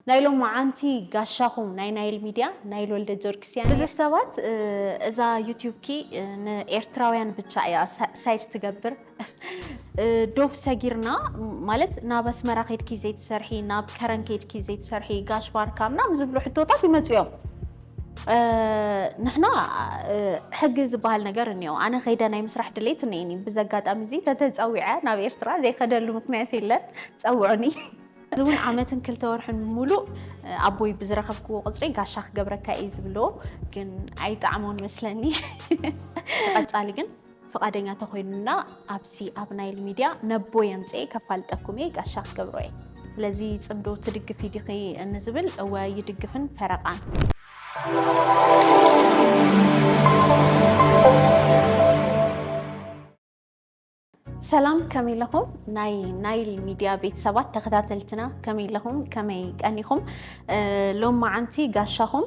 ናይ ሎማዓንቲ ጋሻኹም ናይ ናይል ሚድያ ናይል ወልደጆርጊስ እያ። ብዙሕ ሰባት እዛ ዩቱብኪ ንኤርትራውያን ብቻ እያ ሳይድ ትገብር ዶብ ሰጊርና ማለት ናብ ኣስመራ ከድኪ ዘይትሰርሒ ናብ ከረን ከድኪ ዘይትሰርሒ ጋሽ ባርካ ምናምን ዝብሉ ሕቶታት ይመፁ እዮም ንሕና ሕጊ ዝበሃል ነገር እኒኦ ኣነ ከይደ ናይ ምስራሕ ድሌት እኒኤኒ ብዘጋጣሚ እዚ ተተፀዊዐ ናብ ኤርትራ ዘይከደሉ ምክንያት የለን ፀውዑኒ እዚ እውን ዓመትን ክልተ ወርሕን ሙሉእ ኣቦይ ብዝረኸብክዎ ቁፅሪ ጋሻ ክገብረካ እየ ዝብሎ ግን ኣይጣዕሞን መስለኒ ንቐፃሊ ግን ፍቓደኛ ተኮይኑና ኣብዚ ኣብ ናይል ሚድያ ነቦ የምፅኤ ከፋልጠኩም እየ ጋሻ ክገብሮ እየ ስለዚ ፅምዶ ትድግፊ ዲኺ እንዝብል እወ ይድግፍን ፈረቓን ሰላም ከመይ ኣለኹም ናይ ናይል ሚድያ ቤተሰባት ተኸታተልትና ከመይ ኣለኹም ከመይ ቀኒኹም ሎም መዓንቲ ጋሻኹም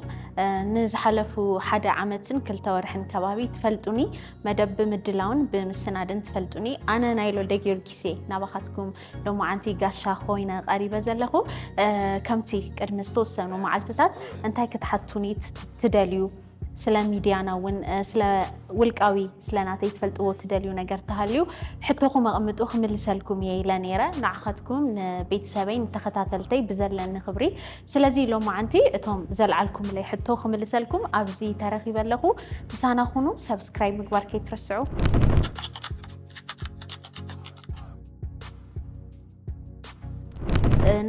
ንዝሓለፉ ሓደ ዓመትን ክልተ ወርሕን ከባቢ ትፈልጡኒ መደብ ብምድላውን ብምስናድን ትፈልጡኒ ኣነ ናይ ሎደ ጊዮርጊስ እየ ናባኻትኩም ሎም መዓንቲ ጋሻ ኮይነ ቀሪበ ዘለኹ ከምቲ ቅድሚ ዝተወሰኑ መዓልትታት እንታይ ክትሓቱኒ ትደልዩ ስለ ሚድያና እውን ስለ ውልቃዊ ስለ ናተይ ትፈልጥዎ ትደልዩ ነገር ተሃልዩ ሕቶኹም ኣቕምጡ ክምልሰልኩም እየ ኢለ ነይረ ንዓኻትኩም ንቤተሰበይ ንተኸታተልተይ ብዘለኒ ክብሪ ስለዚ ሎማዓንቲ እቶም ዘልዓልኩምለይ ሕቶ ክምልሰልኩም ኣብዚ ተረኺበ ኣለኹ ምሳና ኩኑ ሰብስክራይብ ምግባር ከይትርስዑ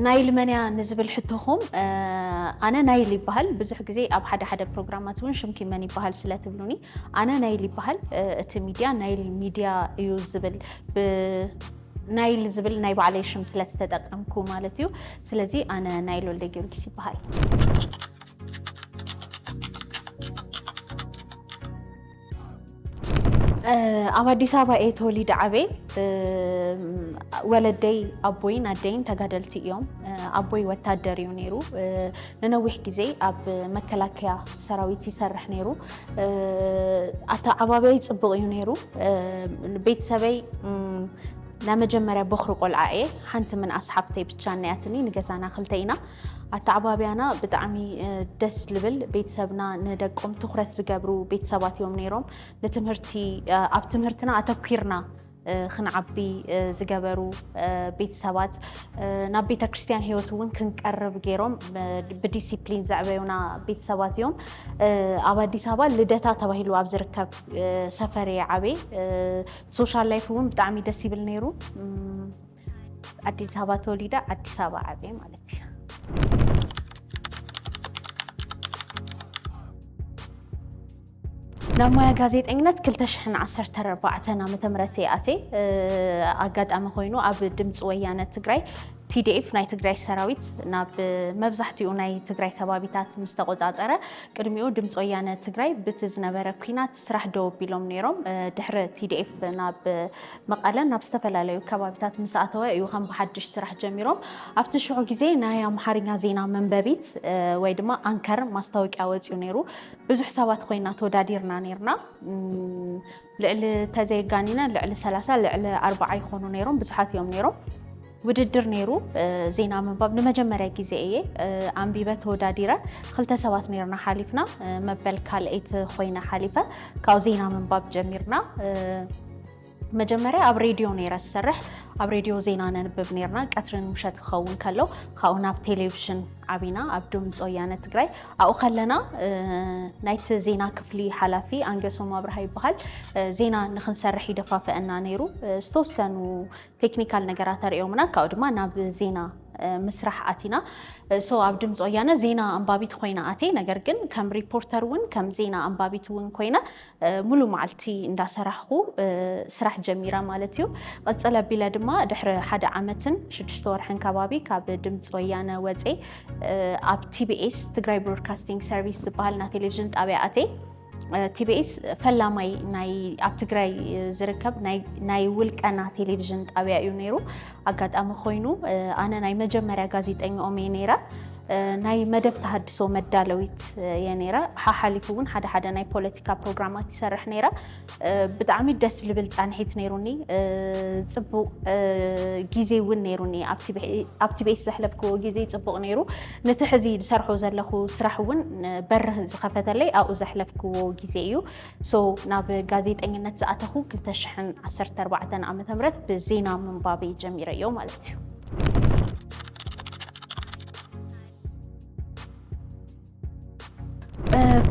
ናይል መን እያ ንዝብል ሕቶኹም ኣነ ናይል ይበሃል። ብዙሕ ግዜ ኣብ ሓደ ሓደ ፕሮግራማት እውን ሽምኪ መን ይበሃል ስለትብሉኒ ኣነ ናይል ይበሃል። እቲ ሚድያ ናይል ሚድያ እዩ ዝብል ናይል ዝብል ናይ ባዕለይ ሽም ስለዝተጠቀምኩ ማለት እዩ። ስለዚ ኣነ ናይል ወልደ ጊዮርጊስ ይበሃል። ኣብ ኣዲስ ኣበባ እየ ተወሊደ ዓበይ ወለደይ ኣቦይን ኣደይን ተጋደልቲ እዮም። ኣቦይ ወታደር እዩ ነይሩ። ንነዊሕ ግዜ ኣብ መከላከያ ሰራዊት ይሰርሕ ነይሩ። ኣተዓባብያይ ፅቡቕ እዩ ነይሩ። ቤተሰበይ ናይ መጀመርያ ቦኽሪ ቆልዓ እየ። ሓንቲ ምንኣስ ሓፍተይ ብቻ እኒኣትኒ ንገዛና ክልተ ኢና። ኣተዓባብያና ብጣዕሚ ደስ ልብል ቤተሰብና ንደቆም ትኩረት ዝገብሩ ቤተሰባት እዮም ነይሮም። ንትምህርቲ ኣብ ትምህርትና ኣተኲርና ክንዓቢ ዝገበሩ ቤተሰባት ናብ ቤተ ክርስቲያን ህይወት እውን ክንቀርብ ገይሮም ብዲሲፕሊን ዘዕበዩና ቤተሰባት እዮም። ኣብ ኣዲስ ኣበባ ልደታ ተባሂሉ ኣብ ዝርከብ ሰፈር እየ ዓበይ ሶሻል ላይፍ እውን ብጣዕሚ ደስ ይብል ነይሩ። ኣዲስ ኣበባ ተወሊደ ኣዲስ ኣበባ ዓብየ ማለት እዩ። ናብ ሞያ ጋዜጠኝነት 2014 ዓ ም እየ ኣትየ እ፣ ኣጋጣሚ ኮይኑ ኣብ ድምፂ ወያነ ትግራይ ቲዲኤፍ ናይ ትግራይ ሰራዊት ናብ መብዛሕትኡ ናይ ትግራይ ከባቢታት ምስ ተቆፃፀረ ቅድሚኡ ድምፂ ወያነ ትግራይ ብቲ ዝነበረ ኩናት ስራሕ ደው ኣቢሎም ነይሮም። ድሕሪ ቲዲኤፍ ናብ መቐለን ናብ ዝተፈላለዩ ከባቢታት ምስ ኣተወ እዩ ከም ብሓድሽ ስራሕ ጀሚሮም። ኣብቲ ሽዑ ግዜ ናይ ኣምሓርኛ ዜና መንበቢት ወይ ድማ ኣንከር ማስታወቂያ ወፂኡ ነይሩ። ብዙሕ ሰባት ኮይና ተወዳዲርና ነይርና። ልዕሊ ተዘየጋኒነ ልዕሊ ሰላሳ ልዕሊ ኣርባዓ ይኾኑ ነይሮም። ብዙሓት እዮም ነይሮም። ውድድር ነይሩ ዜና ምንባብ ንመጀመርያ ግዜ እየ ኣንቢበ ተወዳዲረ ክልተ ሰባት ነርና ሓሊፍና መበል ካልኣይቲ ኮይነ ሓሊፈ ካብኡ ዜና ምንባብ ጀሚርና መጀመርያ ኣብ ሬድዮ ነይረ ዝሰርሕ ኣብ ሬድዮ ዜና ነንብብ ነርና ቀትርን ምሸት ክኸውን ከሎ ካብኡ ናብ ቴሌቭዥን ዓቢና ኣብ ድምፂ ወያነ ትግራይ ኣብኡ ከለና ናይቲ ዜና ክፍሊ ሓላፊ ኣንገሶም ኣብርሃ ይበሃል ዜና ንክንሰርሕ ይደፋፍአና ነይሩ ዝተወሰኑ ቴክኒካል ነገራት ኣርእዮምና ካብኡ ድማ ናብ ዜና ምስራሕ ኣቲና ሶ ኣብ ድምፂ ወያነ ዜና ኣንባቢት ኮይና ኣትየ ነገር ግን ከም ሪፖርተር እውን ከም ዜና ኣንባቢት እውን ኮይነ ሙሉ መዓልቲ እንዳሰራሕኩ ስራሕ ጀሚረ ማለት እዩ ቅፅል ኣቢለ ድማ ድሕሪ ሓደ ዓመትን ሽዱሽተ ወርሕን ከባቢ ካብ ድምፂ ወያነ ወፀ ኣብ ቲቢኤስ ትግራይ ብሮድካስቲንግ ሰርቪስ ዝበሃል ናይ ቴሌቭዥን ጣብያ ኣትየ ቲቢኤስ ፈላማይ ናይ ኣብ ትግራይ ዝርከብ ናይ ውልቀና ቴሌቭዥን ጣብያ እዩ ነይሩ። ኣጋጣሚ ኮይኑ ኣነ ናይ መጀመርያ ጋዜጠኛኦም እየ ነይረ። ናይ መደብ ተሃድሶ መዳለዊት እየ ነይረ። ሓሓሊፉ እውን ሓደ ሓደ ናይ ፖለቲካ ፕሮግራማት ይሰርሕ ነይረ። ብጣዕሚ ደስ ዝብል ፃንሒት ነይሩኒ። ፅቡቅ ጊዜ እውን ነይሩኒ። ኣብ ቲቢኤስ ዘሕለፍክዎ ጊዜ ፅቡቅ ነይሩ። ነቲ ሕዚ ዝሰርሖ ዘለኹ ስራሕ እውን በርህ ዝኸፈተለይ ኣብኡ ዘሕለፍክዎ ግዜ እዩ። so ናብ ጋዜጠኝነት ዝኣተኹ ክልተ ሽሕን ዓሰርተ ኣርባዕተን ዓመተ ምህረት ብዜና ምንባበይ ጀሚረዮ ማለት እዩ።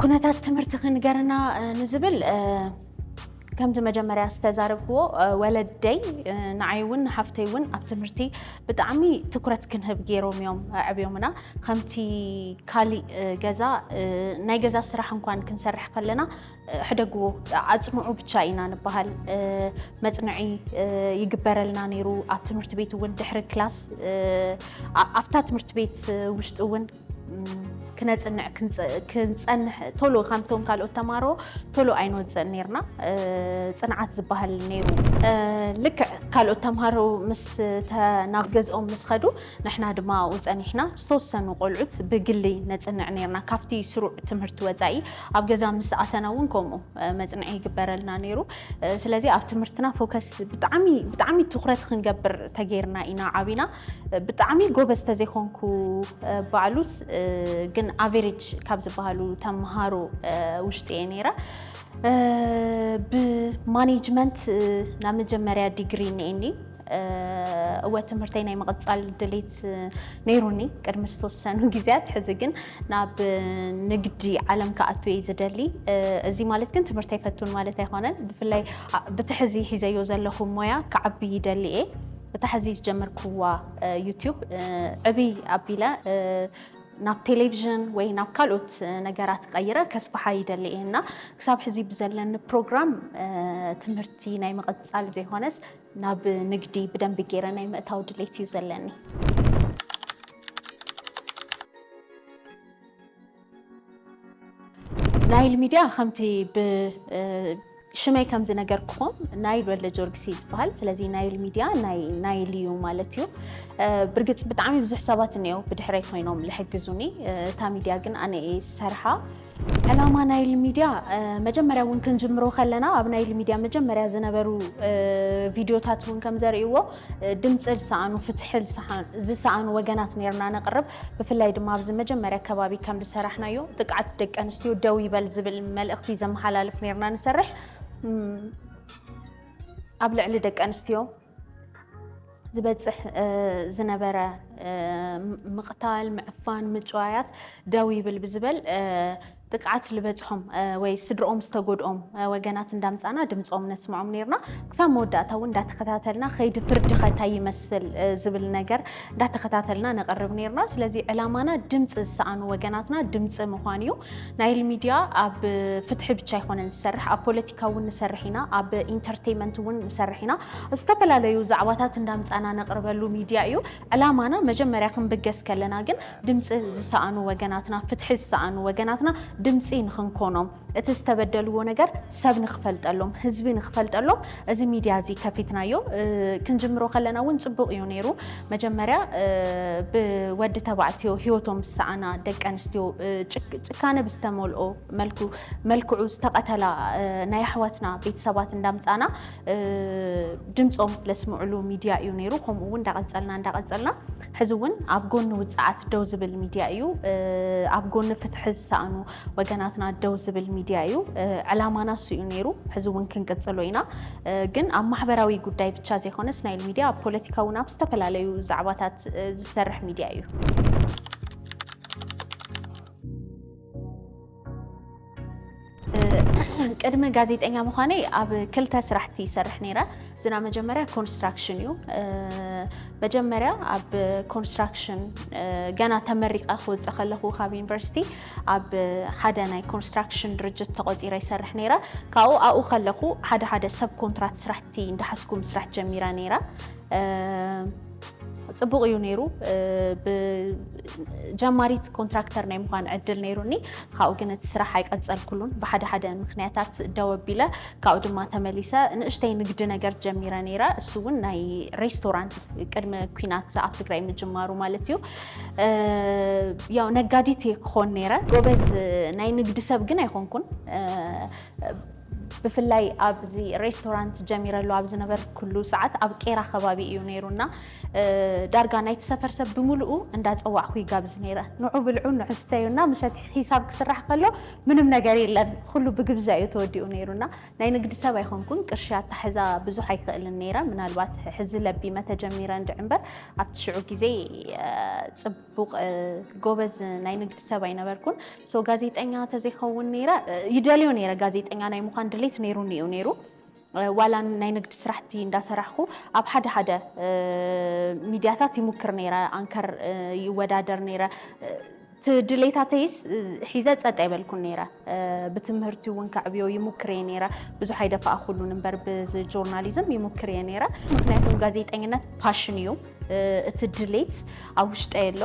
ኩነታት ትምህርትኺ ንገርና ንዝብል ከምቲ መጀመርያ ዝተዛረብክዎ ወለደይ ንዓይ እውን ንሓፍተይ እውን ኣብ ትምህርቲ ብጣዕሚ ትኩረት ክንህብ ገይሮም እዮም ኣዕብዮምና። ከምቲ ካሊእ ገዛ ናይ ገዛ ስራሕ እንኳን ክንሰርሕ ከለና ሕደግዎ ኣፅንዑ ብቻ ኢና ንበሃል። መፅንዒ ይግበረልና ነይሩ። ኣብ ትምህርቲ ቤት እውን ድሕሪ ክላስ ኣብታ ትምህርቲ ቤት ውሽጢ እውን ክነፅንዕ ክንፀንሕ ቶሎ ከምቶም ካልኦት ተማሮ ቶሎ ኣይንወፅእን ነርና ፅንዓት ዝበሃል ነይሩ ልክዕ ካልኦት ተምሃሮ ምስ ናብ ገዝኦም ምስ ኸዱ ንሕና ድማ ኣብኡ ፀኒሕና ዝተወሰኑ ቆልዑት ብግሊ ነፅንዕ ነርና ካብቲ ስሩዕ ትምህርቲ ወፃኢ ኣብ ገዛ ምስ ኣተና እውን ከምኡ መፅንዒ ይግበረልና ነይሩ ስለዚ ኣብ ትምህርትና ፎከስ ብጣዕሚ ብጣዕሚ ትኩረት ክንገብር ተገይርና ኢና ዓብና ብጣዕሚ ጎበዝ ተዘይኮንኩ ባዕሉስ ግን ኣቨሬጅ ካብ ዝበሃሉ ተምሃሮ ውሽጢ እየ ነይረ ብማኔጅመንት ናብ መጀመርያ ዲግሪ እኒኤኒ እወ ትምህርተይ ናይ ምቕፃል ድሌት ነይሩኒ ቅድሚ ዝተወሰኑ ግዜያት ሕዚ ግን ናብ ንግዲ ዓለም ክኣቱ እየ ዝደሊ እዚ ማለት ግን ትምህርተይ ፈቱን ማለት ኣይኮነን ብፍላይ ብትሕዚ ሒዘዮ ዘለኹ ሞያ ክዓቢ ይደሊ እየ እታ ሕዚ ዝጀመርክዋ ዩትዩብ ዕብይ ኣቢለ ናብ ቴሌቭዥን ወይ ናብ ካልኦት ነገራት ቀይረ ከስፍሓ ይደሊ እየ እና ክሳብ ሕዚ ብዘለኒ ፕሮግራም ትምህርቲ ናይ ምቕፃል ዘይኮነስ ናብ ንግዲ ብደንቢ ገይረ ናይ ምእታው ድሌት እዩ ዘለኒ። ናይል ሚድያ ከምቲ ብሽመይ ከም ዝነገርክኹም ናይል ወልደ ጆርጊስ እዩ ዝበሃል ስለዚ ናይል ሚድያ ናይ ናይል እዩ ማለት እዩ ብርግፅ ብጣዕሚ ብዙሕ ሰባት እኒኦ ብድሕረይ ኮይኖም ዝሕግዙኒ እታ ሚድያ ግን ኣነ እየ ዝሰርሓ ዕላማ ናይል ሚድያ እ፣ መጀመርያ እውን ክንጅምሮ ከለና ኣብ ናይል ሚድያ መጀመርያ ዝነበሩ እ፣ ቪድዮታት እውን ከም ዘርእይዎ ድምፂ ዝሰኣኑ ፍትሒ ዝሰኣኑ ወገናት ነይርና ነቕርብ። ብፍላይ ድማ ኣብዚ መጀመርያ ከባቢ ከም ዝሰራሕናዮ ጥቅዓት ደቂ ኣንስትዮ ደው ይበል ዝብል መልእኽቲ ዘመሓላልፍ ነይርና ንሰርሕ። ኣብ ልዕሊ ደቂ ኣንስትዮ ዝበፅሕ ዝነበረ ምቕታል፣ ምዕፋን፣ ምጭዋያት ደው ይብል ብዝበል ጥቅዓት ልበፅሖም ወይ ስድርኦም ዝተጎድኦም ወገናት እንዳምፃና ድምፆም ነስምዖም ነይርና ክሳብ መወዳእታ እውን እንዳተኸታተልና ከይዲ ፍርዲ ከ እንታይ ይመስል ዝብል ነገር እንዳተኸታተልና ነቕርብ ነይርና ስለዚ ዕላማና ድምፂ ዝሰኣኑ ወገናትና ድምፂ ምዃን እዩ ናይል ሚድያ ኣብ ፍትሒ ብቻ ኣይኮነን ዝሰርሕ ኣብ ፖለቲካ እውን ንሰርሕ ኢና ኣብ ኢንተርቴንመንት እውን ንሰርሕ ኢና ዝተፈላለዩ ዛዕባታት እንዳምፃና ነቕርበሉ ሚድያ እዩ ዕላማና መጀመርያ ክንብገስ ከለና ግን ድምፂ ዝሰኣኑ ወገናትና፣ ፍትሒ ዝሰኣኑ ወገናትና ድምፂ ንኽንኮኖም፣ እቲ ዝተበደልዎ ነገር ሰብ ንኽፈልጠሎም፣ ህዝቢ ንኽፈልጠሎም እዚ ሚድያ እዚ ከፊትናዮ። ክንጅምሮ ከለና እውን ፅቡቕ እዩ ነይሩ። መጀመርያ ብወዲ ተባዕትዮ ህይወቶም ዝሰኣና ደቂ ኣንስትዮ ጭካነ ብዝተመልኦ መልክዑ ዝተቐተላ ናይ ኣሕዋትና ቤተሰባት እንዳምፃእና ድምፆም ለስምዕሉ ሚድያ እዩ ነይሩ። ከምኡ እውን እንዳቐፀልና እንዳቐፀልና ሕዚ እውን ኣብ ጎኒ ውፅዓት ደው ዝብል ሚድያ እዩ። ኣብ ጎኒ ፍትሒ ዝሰኣኑ ወገናትና ደው ዝብል ሚድያ እዩ። ዕላማና እሱ እዩ ነይሩ። ሕዚ እውን ክንቅፅሎ ኢና። ግን ኣብ ማሕበራዊ ጉዳይ ብቻ ዘይኮነ ስናይል ሚድያ ኣብ ፖለቲካ እውን ኣብ ዝተፈላለዩ ዛዕባታት ዝሰርሕ ሚድያ እዩ። ቅድሚ ጋዜጠኛ ምዃነይ ኣብ ክልተ ስራሕቲ ይሰርሕ ነይረ። ዝና መጀመርያ ኮንስትራክሽን እዩ። መጀመርያ ኣብ ኮንስትራክሽን ገና ተመሪቐ ክወፅእ ከለኹ ካብ ዩኒቨርሲቲ ኣብ ሓደ ናይ ኮንስትራክሽን ድርጅት ተቖፂረ ይሰርሕ ነይረ። ካብኡ ኣብኡ ከለኹ ሓደ ሓደ ሰብ ኮንትራት ስራሕቲ እንዳሓዝኩ ምስራሕ ጀሚረ ነይረ። ፅቡቕ እዩ ነይሩ ብጀማሪት ኮንትራክተር ናይ ምዃን ዕድል ነይሩኒ ካብኡ ግን እቲ ስራሕ ኣይቀፀልኩሉን ብሓደ ሓደ ምክንያታት ደው ኣቢለ ካብኡ ድማ ተመሊሰ ንእሽተይ ንግዲ ነገር ጀሚረ ነይረ እሱ እውን ናይ ሬስቶራንት ቅድሚ ኩናት ኣብ ትግራይ ምጅማሩ ማለት እዩ እ፣ ያው ነጋዲት እየ ክኾን ነይረ ጎበዝ ናይ ንግዲ ሰብ ግን ኣይኮንኩን እ፣ ብፍላይ ኣብዚ ሬስቶራንት ጀሚረሉ ኣብ ዝነበርኩሉ ሰዓት ኣብ ቄራ ከባቢ እዩ ነይሩ እና ዳርጋ ናይቲ ሰፈር ሰብ ብምልኡ እንዳፀዋዕኩ ይጋብዝ ነይረ። ንዑ ብልዑ ንዑ ስተዩ እና ምሸት ሒሳብ ክስራሕ ከሎ ምንም ነገር የለን ኩሉ ብግብዣ እዩ ተወዲኡ ነይሩ እና ናይ ንግዲ ሰብ ኣይኮንኩን ቅርሺ ኣታሕዛ ብዙሕ ኣይክእልን ነይረ ምናልባት ሕዚ ለቢመ ተጀሚረ እንድዒ እምበር ኣብቲ ሽዑ ግዜ ፅቡቕ ጎበዝ ናይ ንግዲ ሰብ ኣይነበርኩን። So ጋዜጠኛ ተዘይኸውን ነይረ ይደልዮ ነይረ ጋዜጠኛ ናይ ምዃን ድሌት ነይሩኒ እዩ ነይሩ ዋላ ናይ ንግድ ስራሕቲ እንዳሰራሕኩ ኣብ ሓደ ሓደ ሚድያታት ይሙክር ነይረ ኣንከር ይወዳደር ነይረ ድሌታተይስ ሒዘ ፀጥ ኣይበልኩን ነይረ ብትምህርቲ እውን ከዕብዮ ይሙክር እየ ነይረ ብዙሕ ኣይደፋእኩሉን እምበር ብዚ ጆርናሊዝም ይሙክር እየ ነይረ ምክንያቱም ጋዜጠኝነት ፓሽን እዩ እቲ ድሌት ኣብ ውሽጠይ ኣሎ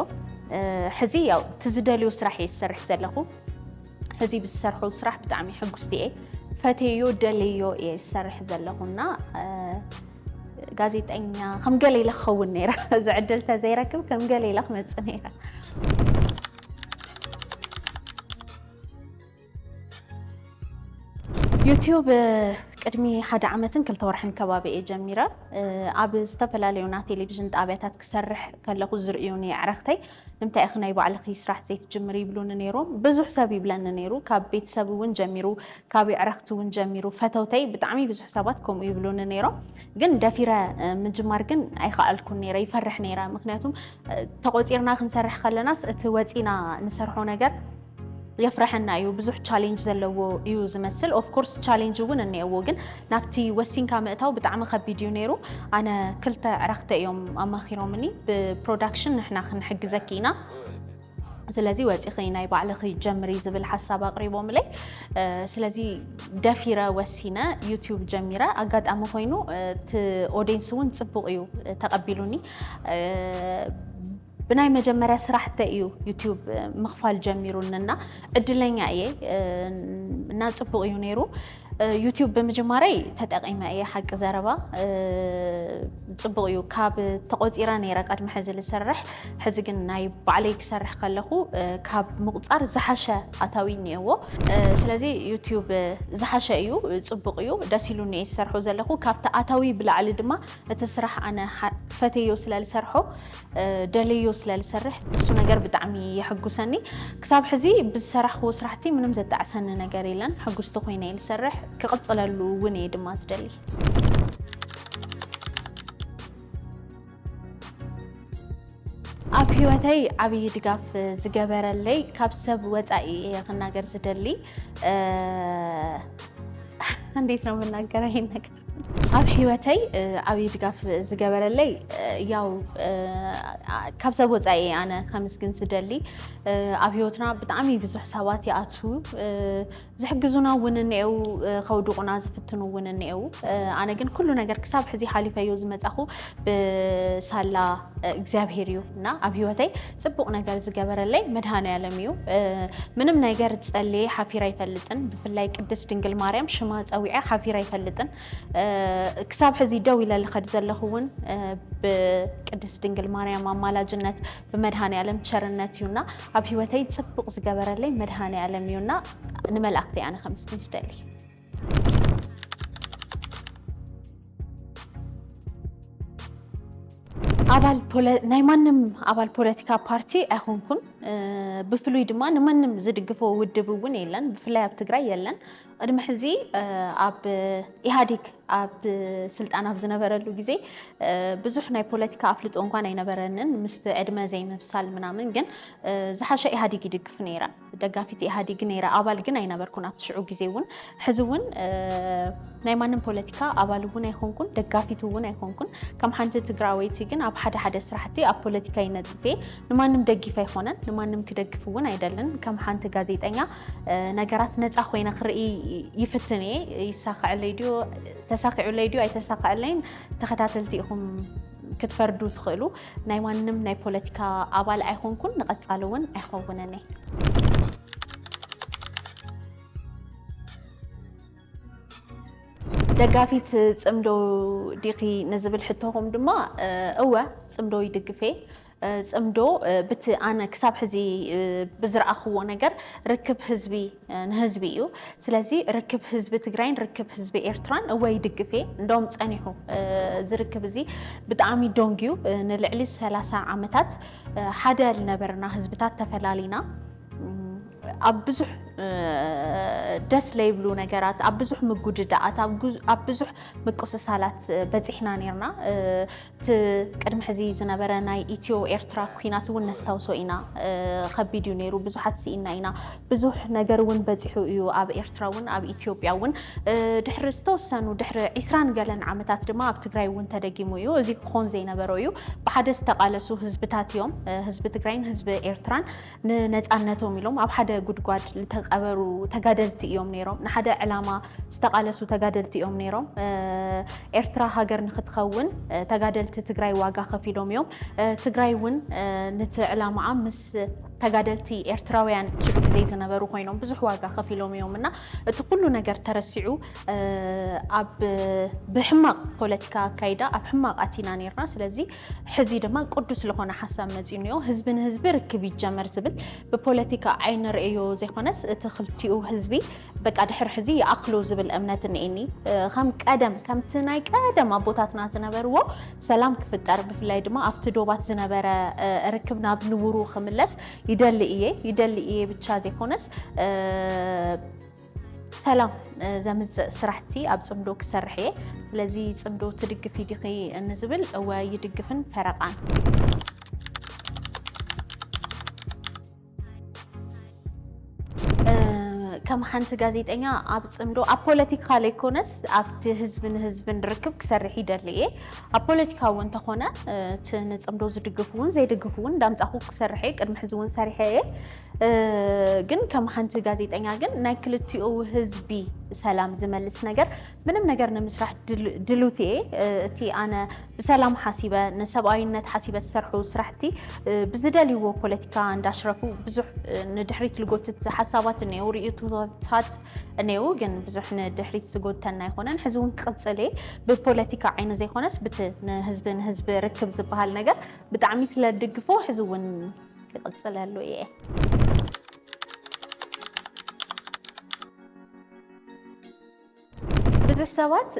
ሕዚ ያው እቲ ዝደልዮ ስራሕ እየ ዝሰርሕ ዘለኹ ሕዚ ብዝሰርሖ ስራሕ ብጣዕሚ ሕጉስቲ እየ ፈቴዮ ደልዮ እየ ዝሰርሕ ዘለኹ እና ጋዜጠኛ ከም ገለ ኢለ ክኸውን ነይረ እዚ ዕድል ተዘይረክብ ከም ገለ ኢለ ክመፅእ ነይረ ዩትዩብ ቅድሚ ሓደ ዓመትን ክልተ ወርሕን ከባቢ እየ ጀሚረ። ኣብ ዝተፈላለዩ ናይ ቴሌቭዥን ጣብያታት ክሰርሕ ከለኹ ዝርእዩኒ ኣዕርኽተይ ንምንታይ ኢኺ ናይ ባዕልኺ ስራሕ ዘይትጅምሪ ይብሉኒ ነይሮም። ብዙሕ ሰብ ይብለኒ ነይሩ፣ ካብ ቤተሰብ እውን ጀሚሩ፣ ካብ ኣዕርኽቲ እውን ጀሚሩ፣ ፈተውተይ ብጣዕሚ ብዙሕ ሰባት ከምኡ ይብሉኒ ነይሮም። ግን ደፊረ ምጅማር ግን ኣይኸኣልኩን ነይረ፣ ይፈርሕ ነይረ። ምኽንያቱ ተቖፂርና ክንሰርሕ ከለናስ እቲ ወፂእና ንሰርሖ ነገር የፍረሐና እዩ ብዙሕ ቻሌንጅ ዘለዎ እዩ ዝመስል ኦፍኮርስ ቻሌንጅ እውን እኒኤዎ ግን ናብቲ ወሲንካ ምእታው ብጣዕሚ ከቢድ እዩ ነይሩ ኣነ ክልተ ኣዕራክተ እዮም ኣማኪሮምኒ ብፕሮዳክሽን ንሕና ክንሕግዘኪ ኢና ስለዚ ወፂኺ ናይ ባዕልኺ ጀምሪ ዝብል ሓሳብ ኣቕሪቦምለይ ስለዚ ደፊረ ወሲነ ዩቲዩብ ጀሚረ ኣጋጣሚ ኮይኑ እቲ ኦዲየንስ እውን ፅቡቕ እዩ ተቐቢሉኒ ብናይ መጀመርያ ስራሕተይ እዩ ዩቱብ ምኽፋል ጀሚሩኒ እና ዕድለኛ እየ እና ፅቡቕ እዩ ነይሩ ዩቲዩብ ብምጅማረይ ተጠቂመ እየ ሓቂ ዘረባ ፅቡቅ እዩ ካብ ተቆፂረ ነይረ ቀድሚ ሕዚ ዝሰርሕ ሕዚ ግን ናይ ባዕለይ ክሰርሕ ከለኹ ካብ ምቁፃር ዝሓሸ ኣታዊ እኒአዎ ስለዚ ዩቲዩብ ዝሓሸ እዩ ፅቡቅ እዩ ደስ ኢሉኒ እየ ዝሰርሖ ዘለኹ ካብቲ ኣታዊ ብላዕሊ ድማ እቲ ስራሕ ኣነ ፈተዮ ስለ ዝሰርሖ ደልዮ ስለ ዝሰርሕ እሱ ነገር ብጣዕሚ የሕጉሰኒ ክሳብ ሕዚ ብዝሰራሕክዎ ስራሕቲ ምንም ዘጣዕሰኒ ነገር የለን ሕጉስቲ ኮይነ እየ ዝሰርሕ ክቕፅለሉ እውን እየ ድማ ዝደሊ ኣብ ህይወተይ ዓብዪ ድጋፍ ዝገበረለይ ካብ ሰብ ወፃኢ እየ ክናገር ዝደሊ እንዴት ነው የምናገረው ይሄን ነገር ኣብ ሂወተይ ዓብዪ ድጋፍ ዝገበረለይ ያው ካብ ሰብ ወፃኢ እየ ኣነ ከምስግን ዝደሊ ኣብ ሂወትና ብጣዕሚ ብዙሕ ሰባት ይኣትዉ ዝሕግዙና እውን እኒአው ከውድቑና ዝፍትኑ እውን እኒአው ኣነ ግን ኩሉ ነገር ክሳብ ሕዚ ሓሊፈዮ ዝመፃኹ ብሳላ እግዚኣብሄር እዩ እና ኣብ ሂወተይ ጽቡቅ ነገር ዝገበረለይ መድሃኒኣለም እዩ ምንም ነገር ጸልየ ሓፊረ ኣይፈልጥን ብፍላይ ቅድስት ድንግል ማርያም ሽማ ጸዊዐ ሓፊረ ኣይፈልጥን ክሳብ ሕዚ ደው ኢለ ልኸድ ዘለኹ እውን ብቅድስት ድንግል ማርያም ኣማላጅነት ብመድሃኒኣለም ቸርነት እዩና ኣብ ህይወተይ ጽቡቅ ዝገበረለይ መድሃኒኣለም እዩና ንመላእክቲ ኣነ ከምስግን ስደሊ ኣባል ናይ ማንም ኣባል ፖለቲካ ፓርቲ ኣይኮንኩን። ብፍሉይ ድማ ንማንም ዝድግፎ ውድብ እውን የለን፣ ብፍላይ ኣብ ትግራይ የለን። ቅድሚ ሕዚ ኣብ ኢህኣዴግ ኣብ ስልጣን ኣብ ዝነበረሉ ግዜ ብዙሕ ናይ ፖለቲካ ኣፍልጦ እንኳን ኣይነበረንን ምስ ዕድመ ዘይምብሳል ምናምን፣ ግን ዝሓሸ ኢህኣዴግ ይድግፍ ነይረ። ደጋፊት ኢህኣዲግ ነይረ ኣባል ግን ኣይነበርኩን ኣብቲ ሽዑ ግዜ እውን ሕዚ እውን ናይ ማንም ፖለቲካ ኣባል እውን ኣይኮንኩን ደጋፊት እውን ኣይኮንኩን ከም ሓንቲ ትግራወይቲ ግን ኣብ ሓደ ሓደ ስራሕቲ ኣብ ፖለቲካ ይነጥፌ ንማንም ደጊፍ ኣይኮነን ንማንም ክደግፍ እውን ኣይደልን ከም ሓንቲ ጋዜጠኛ ነገራት ነፃ ኮይነ ክርኢ ይፍትን እየ ይሳክዐለይ ድዮ ተሳኪዑለይ ድዮ ኣይተሳክዐለይን ተኸታተልቲ ኢኹም ክትፈርዱ ትኽእሉ ናይ ማንም ናይ ፖለቲካ ኣባል ኣይኾንኩን ንቐፃሊ እውን ኣይኸውንን እየ። ደጋፊት ፅምዶ ዲኺ ንዝብል ሕቶኹም ድማ እወ ፅምዶ ይድግፍ እየ። ፅምዶ ብቲ ኣነ ክሳብ ሕዚ ብዝረኣኽዎ ነገር ርክብ ህዝቢ ንህዝቢ እዩ ስለዚ ርክብ ህዝቢ ትግራይን ርክብ ህዝቢ ኤርትራን እወ ይድግፍ እየ እንደውም ፀኒሑ እዚ ርክብ እዚ ብጣዕሚ ዶንግዩ ንልዕሊ 30 ዓመታት ሓደ ዝነበርና ህዝብታት ተፈላሊና ኣብ ብዙሕ ደስ ለይብሉ ነገራት ኣብ ብዙሕ ምጉድዳኣት ኣብ ብዙሕ ምቁስሳላት በፂሕና ነርና እቲ ቅድሚ ሕዚ ዝነበረ ናይ ኢትዮ ኤርትራ ኩናት እውን ነስታውሶ ኢና ከቢድ እዩ ነይሩ ብዙሓት ስኢና ኢና ብዙሕ ነገር እውን በፂሑ እዩ ኣብ ኤርትራ እውን ኣብ ኢትዮጵያ እውን ድሕሪ ዝተወሰኑ ድሕሪ ዒስራን ገለን ዓመታት ድማ ኣብ ትግራይ እውን ተደጊሙ እዩ እዚ ክኾን ዘይነበሮ እዩ ብሓደ ዝተቃለሱ ህዝብታት እዮም ህዝቢ ትግራይን ህዝቢ ኤርትራን ንነፃነቶም ኢሎም ኣብ ሓደ ጉድጓድ ዝተቐበሩ ተጋደልቲ እዮም ነይሮም። ንሓደ ዕላማ ዝተቓለሱ ተጋደልቲ እዮም ነይሮም። ኤርትራ ሃገር ንክትኸውን ተጋደልቲ ትግራይ ዋጋ ከፊሎም እዮም። ትግራይ እውን ነቲ ዕላማኣ ምስ ተጋደልቲ ኤርትራውያን ሽዑ ግዜ ዝነበሩ ኮይኖም ብዙሕ ዋጋ ከፊሎም እዮም እና እቲ ኩሉ ነገር ተረሲዑ ኣብ ብሕማቕ ፖለቲካ ኣካይዳ ኣብ ሕማቕ ኣቲና ነርና ስለዚ ሕዚ ድማ ቅዱስ ዝኾነ ሓሳብ መፂኡ እኒኦ። ህዝቢ ንህዝቢ ርክብ ይጀመር ዝብል ብፖለቲካ ዓይኒ ንርእዮ ዘይኮነስ እቲ ክልቲኡ ህዝቢ በቃ ድሕሪ ሕዚ ይኣክሎ ዝብል እምነት እኒኤኒ። ከም ቀደም ከምቲ ናይ ቀደም ኣቦታትና ዝነበርዎ ሰላም ክፍጠር ብፍላይ ድማ ኣብቲ ዶባት ዝነበረ ርክብ ናብ ንቡሩ ክምለስ ይደሊ እየ ይደሊ እየ ብቻ ዘይኮነስ ሰላም ዘምፅእ ስራሕቲ ኣብ ፅምዶ ክሰርሕ እየ ስለዚ ፅምዶ ትድግፊ ዲኺ ንዝብል እወ ይድግፍን ፈረቃን ከም ሓንቲ ጋዜጠኛ ኣብ ፅምዶ ኣብ ፖለቲካ ዘይኮነስ ኣብቲ ህዝቢ ንህዝብን ርክብ ክሰርሕ ይደሊ እየ ኣብ ፖለቲካ እውን እንተኾነ እቲ ንፅምዶ ዝድግፉ እውን ዘይድግፉ እውን እንዳምፃኹ ክሰርሐ ቅድሚ ሕዚ እውን ሰሪሐ እየ ግን ከም ሓንቲ ጋዜጠኛ ግን ናይ ክልቲኡ ህዝቢ ሰላም ዝመልስ ነገር ምንም ነገር ንምስራሕ ድሉት እየ እቲ ኣነ ብሰላም ሓሲበ ንሰብኣዊነት ሓሲበ ዝሰርሑ ስራሕቲ ብዝደልይዎ ፖለቲካ እንዳሽረፉ ብዙሕ ንድሕሪት ዝጎትት ሓሳባት እኔው ርእቶታት እኔው ግን ብዙሕ ንድሕሪት ዝጎተና ኣይኮነን ሕዚ እውን ክቕፅል እየ ብፖለቲካ ዓይነ ዘይኮነስ ብቲ ንህዝቢ ንህዝቢ ርክብ ዝበሃል ነገር ብጣዕሚ ስለድግፎ ሕዚ እውን ይቕፅለሉ እየ። ብዙሕ ሰባት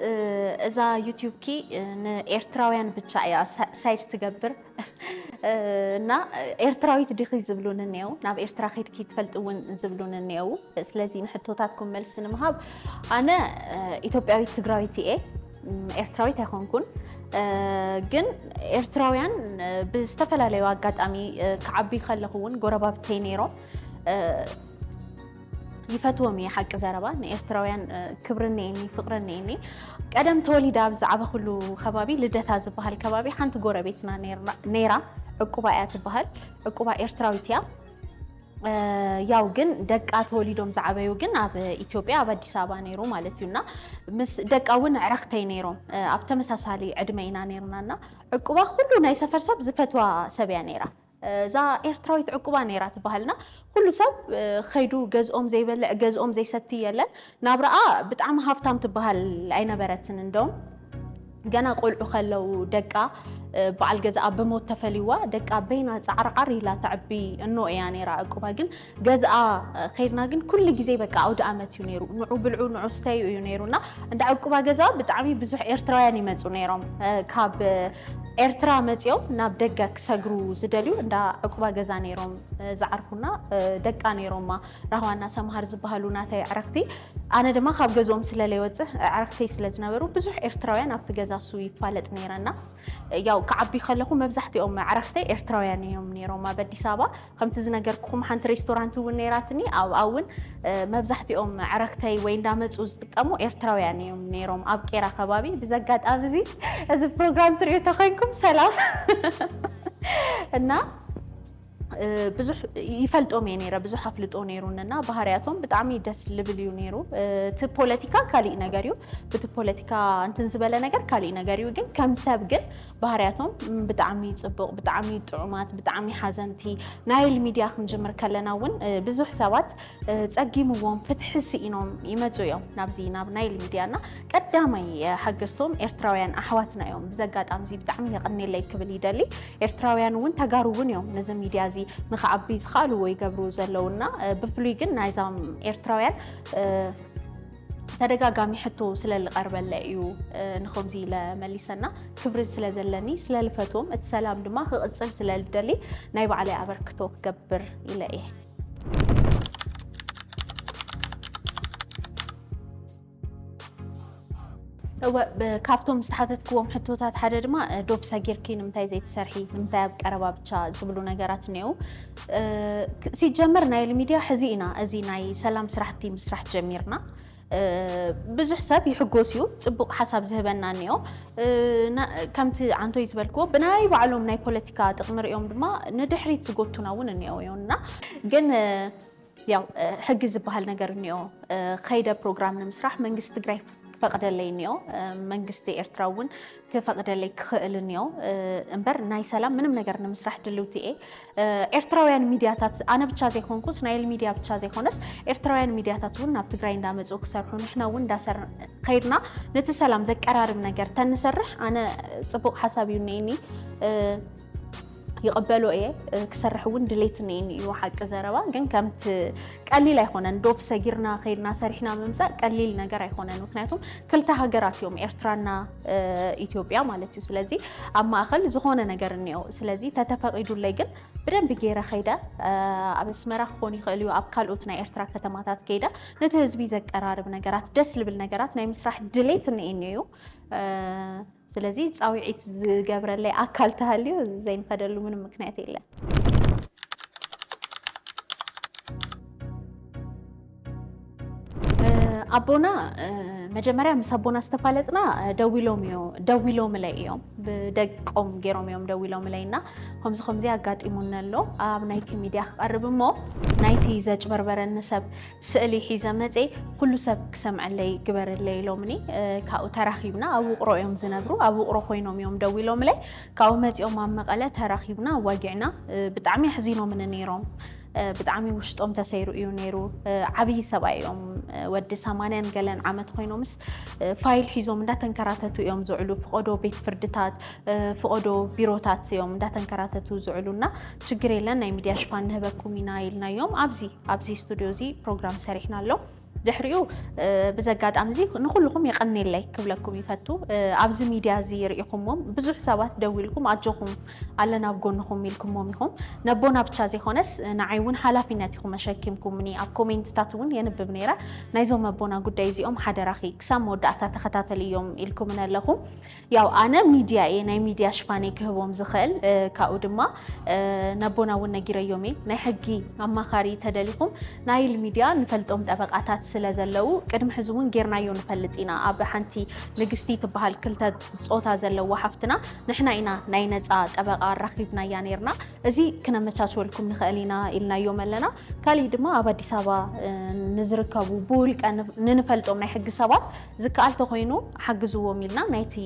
እዛ ዩቲዩብኪ ንኤርትራውያን ብቻ እያ ሳይድ ትገብር እና ኤርትራዊት ዲኺ ዝብሉን እኔው ናብ ኤርትራ ከድኪ ትፈልጥ እውን ዝብሉን እኔው ስለዚ ንሕቶታትኩም መልሲ ንምሃብ ኣነ ኢትዮጵያዊት ትግራዊት እየ ኤርትራዊት ኣይኮንኩን ግን ኤርትራውያን ብዝተፈላለዩ ኣጋጣሚ ክዓቢ ከለኹ እውን ጎረባብተይ ነይሮም ይፈትዎም እየ ሓቂ ዘረባ ንኤርትራውያን ክብሪ እኒኤኒ ፍቅሪ እኒኤኒ ቀደም ተወሊደ ኣብ ዝዓበኹሉ ከባቢ ልደታ ዝበሃል ከባቢ ሓንቲ ጎረቤትና ነይራ ዕቁባ እያ ትበሃል ዕቁባ ኤርትራዊት እያ ያው ግን ደቃ ተወሊዶም ዝዓበዩ ግን ኣብ ኢትዮጵያ ኣብ ኣዲስ ኣበባ ነይሩ ማለት እዩ እና ምስ ደቃ እውን ዕረክተይ ነይሮም ኣብ ተመሳሳሊ ዕድመ ኢና ነይርና እና ዕቁባ ኩሉ ናይ ሰፈር ሰብ ዝፈትዋ ሰብ እያ ነይራ እዛ ኤርትራዊት ዕቁባ ነይራ ትበሃልና ኩሉ ሰብ ከይዱ ገዝኦም ዘይበልዕ ገዝኦም ዘይሰቲ የለን ናብራኣ ብጣዕሚ ሃብታም ትበሃል ኣይነበረትን እንደውም ገና ቆልዑ ከለው ደቃ በዓል ገዛኣ ብሞት ተፈልይዋ ደቃ በይና ጻዕርዓር ኢላ ተዕቢ እኖ እያ ነይራ ዕቁባ ግን ገዝኣ ከይድና ግን ኩሉ ግዜ በቃ ኣውደ ኣመት እዩ ነይሩ ንዑ ብልዑ ንዑ ስተዩ እዩ ነይሩና እንዳ ዕቁባ ገዛ ብጣዕሚ ብዙሕ ኤርትራውያን ይመጹ ነይሮም ካብ ኤርትራ መጺኦም ናብ ደገ ክሰግሩ ዝደልዩ እንዳ ዕቁባ ገዛ ነይሮም ዝዓርፉና ደቃ ነይሮማ ራህዋና ሰምሃር ዝበሃሉ ናተይ ኣዕርኽቲ፣ ኣነ ድማ ካብ ገዝኦም ስለ ለይወጽእ ኣዕርኽተይ ስለ ዝነበሩ ብዙሕ ኤርትራውያን ኣብቲ ገዛ እሱ ይፋለጥ ነይረ እና ያው ክዓቢ ከለኹ መብዛሕትኦም ኣዕርኽተይ ኤርትራውያን እዮም ነይሮም። ኣብ ኣዲስ ኣበባ ከምቲ ዝነገርኩኹም ሓንቲ ሬስቶራንት እውን ነይራትኒ ኣብኣ እውን መብዛሕትኦም ኣዕርኽተይ ወይ እንዳመጹ ዝጥቀሙ ኤርትራውያን እዮም ነይሮም ኣብ ቄራ ከባቢ። ብዚ ኣጋጣሚ እዚ እዚ ፕሮግራም ትሪኡ ተኮይንኩም ሰላም እና ብዙሕ ይፈልጦም እየ ነይረ ብዙሕ ኣፍልጦ ነይሩንና ባህርያቶም ብጣዕሚ ደስ ልብል እዩ ነይሩ እቲ ፖለቲካ ካሊእ ነገር እዩ ብቲ ፖለቲካ እንትን ዝበለ ነገር ካሊእ ነገር እዩ ግን ከም ሰብ ግን ባህርያቶም ብጣዕሚ ፅቡቕ ብጣዕሚ ጥዑማት ብጣዕሚ ሓዘንቲ ናይል ሚድያ ክንጅምር ከለና እውን ብዙሕ ሰባት ጸጊምዎም ፍትሒ ስኢኖም ይመጹ እዮም ናብዚ ናብ ናይል ሚድያ እና ቀዳማይ ሓገዝቶም ኤርትራውያን ኣሕዋትና እዮም ብዚ ኣጋጣሚ እዚ ብጣዕሚ የቐኔለይ ክብል ይደሊ ኤርትራውያን እውን ተጋሩ እውን እዮም ነዚ ሚድያ እዚ ንክዓቢ ዝኸኣልዎ ይገብሩ ዘለውና ብፍሉይ ግን ናይዛም ኤርትራውያን ተደጋጋሚ ሕቶ ስለ ዝቐርበለ እዩ ንከምዚ ኢለ መሊሰና ክብሪ ስለ ዘለኒ ስለ ልፈትዎም እቲ ሰላም ድማ ክቕፅል ስለ ልደሊ ናይ ባዕለይ ኣበርክቶ ክገብር ኢለ እየ እወ ካብቶም ዝተሓተትክዎም ሕቶታት ሓደ ድማ ዶብ ሰጊርኪ ንምንታይ ዘይትሰርሒ ንምንታይ ኣብ ቀረባ ብቻ ዝብሉ ነገራት እኒአው ሲጀመር ናይል ሚድያ ሕዚ ኢና እዚ ናይ ሰላም ስራሕቲ ምስራሕ ጀሚርና ብዙሕ ሰብ ይሕጎስ እዩ ፅቡቕ ሓሳብ ዝህበና እኒኦ ከምቲ ዓንቶይ ዝበልክዎ ብናይ ባዕሎም ናይ ፖለቲካ ጥቕሚ ሪኦም ድማ ንድሕሪት ዝጎቱና እውን እኒኦ እና ግን ያው ሕጊ ዝበሃል ነገር እኒኦ ከይደ ፕሮግራም ንምስራሕ መንግስቲ ትግራይ ፈቕደለይ እኒኦ መንግስቲ ኤርትራ እውን ክፈቅደለይ ክኽእልንዮ እምበር ናይ ሰላም ምንም ነገር ንምስራሕ ድልውቲ እየ ኤርትራውያን ሚድያታት ኣነ ብቻ ዘይኮንኩ እስናኤል ሚድያ ብቻ ዘይኮነስ ኤርትራውያን ሚድያታት እውን ናብ ትግራይ እንዳመፁ ክሰርሑ ንሕና እውን እንዳሰር ከይድና ነቲ ሰላም ዘቀራርብ ነገር ተንሰርሕ ኣነ ፅቡቅ ሓሳብ እዩ እኒኒ ይቕበሎ እየ ክሰርሕ እውን ድሌት እኔኒ እዩ ሓቂ ዘረባ ግን ከምቲ ቀሊል ኣይኮነን ዶብ ሰጊርና ከይድና ሰሪሕና ምምፃእ ቀሊል ነገር ኣይኮነን ምክንያቱም ክልተ ሃገራት እዮም ኤርትራና ኢትዮጵያ ማለት እዩ ስለዚ ኣብ ማእኸል ዝኾነ ነገር እኒኦ ስለዚ ተተፈቒዱለይ ግን ብደንብ ገይረ ከይደ ኣብ ኣስመራ ክኾን ይኽእል እዩ ኣብ ካልኦት ናይ ኤርትራ ከተማታት ከይደ ነቲ ህዝቢ ዘቀራርብ ነገራት ደስ ልብል ነገራት ናይ ምስራሕ ድሌት እኔኒ እዩ ስለዚ ፃውዒት ዝገብረለይ ኣካል ተሃልዩ ዘይንኸደሉ ምንም ምክንያት የለን። ኣቦና መጀመርያ ምስ ኣቦና ዝተፋለጥና ደዊሎም እዮ ደዊሎምለይ እዮም ብደቆም ገይሮም እዮም ደዊሎምለይ እና ከምዚ ከምዚ ኣጋጢሙኒ ኣሎ ኣብ ናይቲ ሚድያ ክቐርብ እሞ ናይቲ ዘጭበርበረኒ ሰብ ስእሊ ሒዘ መጼ ኹሉ ሰብ ክሰምዐለይ ግበርለይ ኢሎምኒ ካብኡ ተራኺብና ኣብ ውቕሮ እዮም ዝነብሩ ኣብ ውቕሮ ኮይኖም እዮም ደዊሎምለይ ካብኡ መጺኦም ኣብ መቐለ ተራኺብና ኣዋጊዕና ብጣዕሚ ኣሕዚኖምኒ ነይሮም ብጣዕሚ ውሽጦም ተሰይሩ እዩ ነይሩ ዓብዪ ሰብኣይ እዮም ወዲ ሰማንያን ገለን ዓመት ኮይኖምስ ፋይል ሒዞም እንዳተንከራተቱ እዮም ዝውዕሉ። ፍቆዶ ቤት ፍርድታት፣ ፍቆዶ ቢሮታት እዮም እንዳተንከራተቱ ዝውዕሉ እና ችግር የለን ናይ ሚዲያ ሽፋን ንህበኩም ኢና ኢልናዮም። ኣብዚ ኣብዚ ስቱድዮ እዚ ፕሮግራም ሰሪሕና ኣሎ። ድሕሪኡ ብዘጋጣሚ እዚ ንኩልኩም የቀኔለይ ክብለኩም ይፈቱ ኣብዚ ሚድያ እዚ ርኢኹምዎም ብዙሕ ሰባት ደዊልኩም ኣጆኹም ኣለና ኣብ ጎንኹም ኢልኩሞም ኢኹም። ነቦና ብቻ ዘይኾነስ ንዓይ እውን ሓላፊነት ኢኹም ኣሸኪምኩምኒ። ኣብ ኮሜንትታት እውን የንብብ ነይረ። ናይዞም ኣቦና ጉዳይ እዚኦም ሓደራኺ ክሳብ መወዳእታ ተኸታተልዮም ኢልኩምነ ኣለኹ። ያው ኣነ ሚድያ እየ ናይ ሚድያ ሽፋነይ ክህቦም ዝኽእል ካብኡ ድማ ነቦና እውን ነጊረዮም እየ። ናይ ሕጊ ኣማኻሪ ተደሊኹም ናይል ሚድያ ንፈልጦም ጠበቃታት ስለ ዘለው ቅድሚ ሕዚ እውን ጌርናዮ ንፈልጥ ኢና። ኣብ ሓንቲ ንግስቲ ትበሃል ክልተ ጾታ ዘለዋ ሓፍትና ንሕና ኢና ናይ ነፃ ጠበቃ ኣራኪብናያ ነርና እዚ ክነመቻችወልኩም ንክእል ኢና ኢልናዮም ኣለና ካሊእ ድማ ኣብ ኣዲስ ኣበባ ንዝርከቡ ብውልቀ ንንፈልጦም ናይ ሕጊ ሰባት ዝከኣል ተኮይኑ ሓግዝዎም ኢልና ናይቲ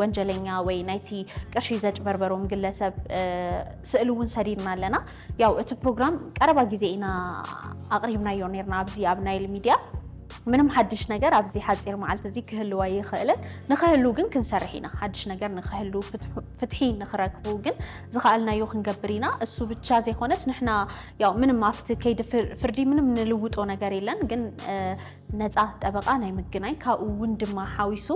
ወንጀለኛ ወይ ናይቲ ቅርሺ ዘጭበርበሮም ግለሰብ ስእሊ እውን ሰዲድና ኣለና ያው እቲ ፕሮግራም ቀረባ ግዜ ኢና ኣቕሪብናዮ ነርና ኣብዚ ኣብ ናይል ሚድያ ምንም ሓድሽ ነገር ኣብዚ ሓፂር መዓልቲ እዚ ክህልው ኣይኽእልን። ንክህሉ ግን ክንሰርሕ ኢና። ሓድሽ ነገር ንክህሉ ፍትሒ ንክረክቡ ግን ዝኸኣልናዮ ክንገብር ኢና። እሱ ብቻ ዘይኮነስ ንሕና ያው ምንም ኣብቲ ከይዲ ፍርዲ ምንም ንልውጦ ነገር የለን ግን ነፃ ጠበቓ ናይ ምግናይ ካብኡ እውን ድማ ሓዊሱ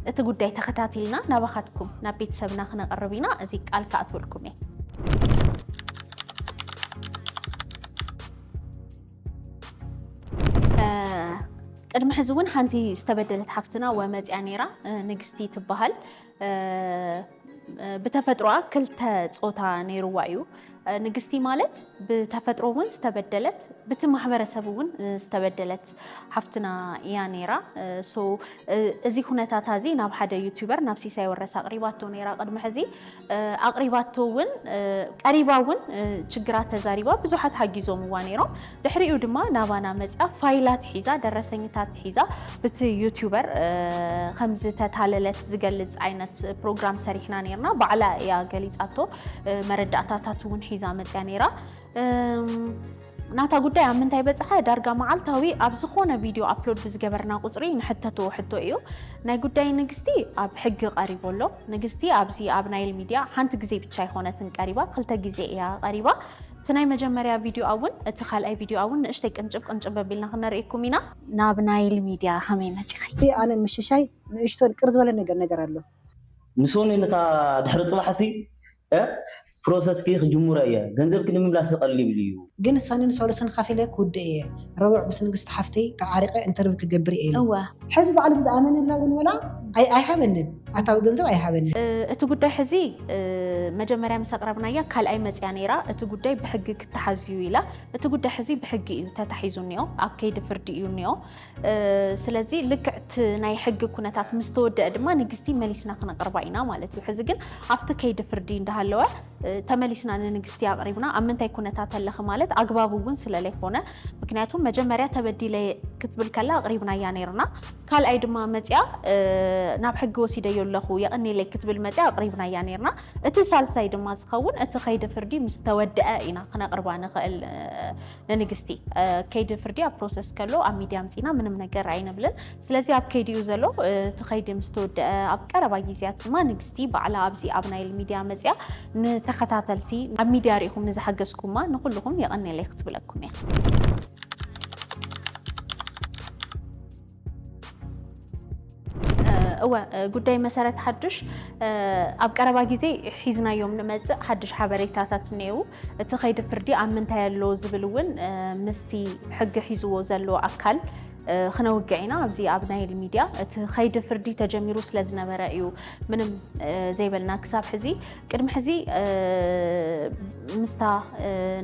እቲ ጉዳይ ተኸታቲልና ናባኻትኩም ናብ ቤተሰብና ክነቕርብ ኢና እዚ ቃል ክኣትወልኩም እየ ቅድሚ ሕዚ እውን ሓንቲ ዝተበደለት ሓፍትና ወመፅያ ነይራ ንግስቲ ትበሃል ብተፈጥሮኣ ክልተ ፆታ ነይርዋ እዩ። ንግስቲ ማለት ብተፈጥሮ እውን ዝተበደለት ብቲ ማሕበረሰብ እውን ዝተበደለት ሓፍትና እያ ነይራ። እዚ ኩነታታ እዚ ናብ ሓደ ዩቱበር ናብ ሲሳይ ወረስ ኣቕሪባቶ ነይራ ቅድሚ ሕዚ ኣቕሪባቶ እውን ቀሪባ እውን ችግራት ተዛሪባ ብዙሓት ሓጊዞምዋ ነይሮም። ድሕሪኡ ድማ ናባና መጽያ ፋይላት ሒዛ ደረሰኝታት ሒዛ ብቲ ዩቲዩበር ከም ዝተታለለት ዝገልጽ ዓይነት ፕሮግራም ሰሪሕና ነይርና። ባዕላ እያ ገሊጻቶ መረዳእታታት እውን ሒዛ መጽያ ነይራ። ናታ ጉዳይ ኣብ ምንታይ በጽሐ ዳርጋ መዓልታዊ ኣብ ዝኾነ ቪድዮ ኣፕሎድ ብዝገበርና ቁጽሪ ንሕተቶ ሕቶ እዩ ናይ ጉዳይ ንግስቲ ኣብ ሕጊ ቀሪቦ ኣሎ ንግስቲ ኣብዚ ኣብ ናይል ሚድያ ሓንቲ ግዜ ብቻ ኣይኮነትን ቀሪባ ክልተ ግዜ እያ ቀሪባ እቲ ናይ መጀመርያ ቪድዮ ኣውን እቲ ካልኣይ ቪድዮ ኣውን ንእሽተይ ቅንጭብ ቅንጭብ ኣቢልና ክነርእየኩም ኢና። ናብ ናይል ሚድያ ከመይ መጺኺ? እቲ ኣነ ንምሽሻይ ንእሽቶ ቅር ዝበለ ነገር ነገር ኣሎ። ንሶኒ ነታ ድሕሪ ጽባሕሲ እ ፕሮሰስኪ ክጅምሮ እየ ገንዘብኪ ንምምላስ ዝቀሊል እዩ። ግን ሰንን ሰሉስን ከፊለ ክውድእ እየ ረቡዕ ምስ ንግስቲ ሓፍተይ ተዓሪቀ እንተርቪው ክገብር እየ ኢሉ። እወ ሕዚ ባዕሉ ብዝኣመነላ እውን ወላ ኣይሃበንን፣ ኣታዊ ገንዘብ ኣይሃበንን። እቲ ጉዳይ ሕዚ መጀመርያ ምስ ኣቕረብናያ ካልኣይ መፅያ ነይራ፣ እቲ ጉዳይ ብሕጊ ክተሓዝ እዩ ኢላ። እቲ ጉዳይ ሕዚ ብሕጊ እዩ ተታሒዙ እኒኦ፣ ኣብ ከይዲ ፍርዲ እዩ እኒኦ። ስለዚ ልክዕ እቲ ናይ ሕጊ ኩነታት ምስ ተወደአ ድማ ንግስቲ መሊስና ክነቕርባ ኢና ማለት እዩ። ሕዚ ግን ኣብቲ ከይዲ ፍርዲ እንዳሃለወ ተመሊስና ንንግስቲ ኣቕሪብና ኣብ ምንታይ ኩነታት ኣለኺ ማለት ኣግባብ እውን ስለለይኮነ ምክንያቱም መጀመርያ ተበዲለ ክትብል ከላ ኣቕሪብናያ ነይርና ካልኣይ ድማ መፅያ ናብ ሕጊ ወሲደዮ ኣለኹ የቕኒለይ ክትብል መፅያ ኣቕሪብናያ ነይርና እቲ ሳልሳይ ድማ ዝኸውን እቲ ከይዲ ፍርዲ ምስ ተወድአ ኢና ክነቕርባ ንኽእል ንንግስቲ ከይዲ ፍርዲ ኣብ ፕሮሰስ ከሎ ኣብ ሚድያ ምፂና ምንም ነገር ኣይንብልን ስለዚ ኣብ ከይዲ እዩ ዘሎ እቲ ከይዲ ምስ ተወደአ ኣብ ቀረባ ግዜያት ድማ ንግስቲ ባዕላ ኣብዚ ኣብ ናይል ሚድያ መፅያ ንተኸታተልቲ ኣብ ሚድያ ሪኢኹም ንዝሓገዝኩማ ንኹልኹም የቐኔለይ ክትብለኩም እያ። እወ ጉዳይ መሰረት ሓዱሽ ኣብ ቀረባ ግዜ ሒዝናዮም ንመፅእ ሓዱሽ ሓበሬታታት እኔው እቲ ከይዲ ፍርዲ ኣብ ምንታይ ኣሎ ዝብል እውን ምስቲ ሕጊ ሒዝዎ ዘሎ ኣካል ክነውግዕ ኢና ኣብዚ ኣብ ናይል ሚድያ እቲ ከይዲ ፍርዲ ተጀሚሩ ስለ ዝነበረ እዩ ምንም ዘይበልና ክሳብ ሕዚ ቅድሚ ሕዚ ምስታ